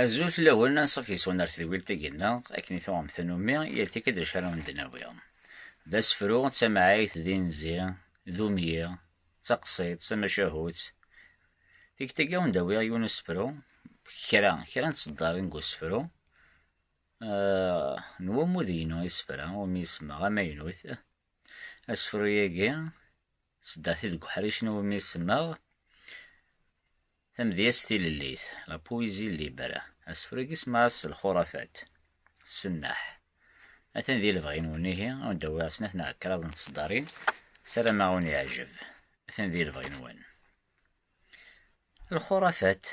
Azul fell-awen, ansuf yes-wen ar tedwilt-agi-nneɣ, akken i tuɣem tannumi, yal tikkelt d acu ara awen-d-nawi. D asefru, d tamɛayt, d inzi, d umyi, d taqsiḍt, d tamacahut. Tikkelt-agi ad awen-d-awiɣ yiwen usefru, kra, kra n tseddarin deg usefru, n wamud-inu isefra, umi i semmaɣ amaynut. Asefru-agi, sdaxi deg uḥric n wumi semmaɣ Tamedyazt tilellit, la poésie libre. Asefru-agi semmaɣ-as s lxurafat, ssennaḥ. Atan di lebɣi-nwen ihi, ad wen-d-awiɣ snat neɣ kraḍ n tseddarin, sarameɣ ad wen-yeɛjeb. Atan di lebɣi-nwen. Lxurafat,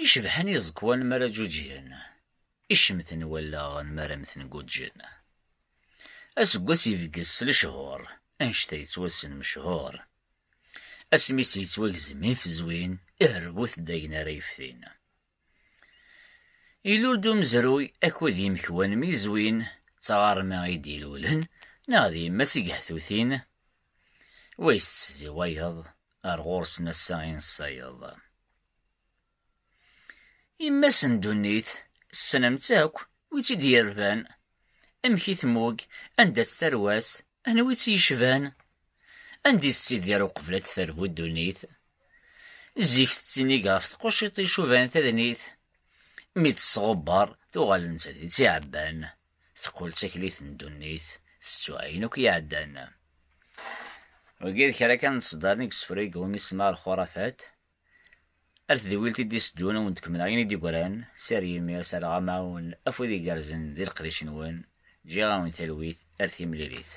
I cebḥen iẓekwan mi ara ǧǧuǧgen, i cemten wallaɣ mi ara mmten guǧǧen. Aseggas ibges s lechur, anect-a yettwassen mechur. Asmis yettwagzem ifezwin, iherbut-d ayen ara yeftin. Ilul-d umezruy akked yimekwan mi zwin, d taɣerma i d-ilulen neɣ d yemma-s i gehtutin, Wis di wayeḍ, ar ɣur-sen ass-a i nessayeḍ. Yemma-s n ddunit, tessnem-tt akk, wi tt-id-yerban, amek i tmug, anda-tt tarwa-s, anwa i tt-yecban? Anda i tettidir uqbel ad d-terbu ddunit? Zik tettinig ɣef tquciṭ icuban tadnit, mi d-tesɣubber, tuɣal nettat d tiɛebban, teqqel d taklit n ddunit tettu ayen akk iɛeddan. Wagi d kra kan n ṣeddaren i yessefreg wumi semmaɣ lxurafat. Ar tedwilt i d-iteddun ad wen-d-kemmleɣ ayen i d-yegran, sser yimir, sser ɣamaɛun, afud igerrzen di leqdic-nwen, ǧǧiɣ-awen talwit ar timlilit.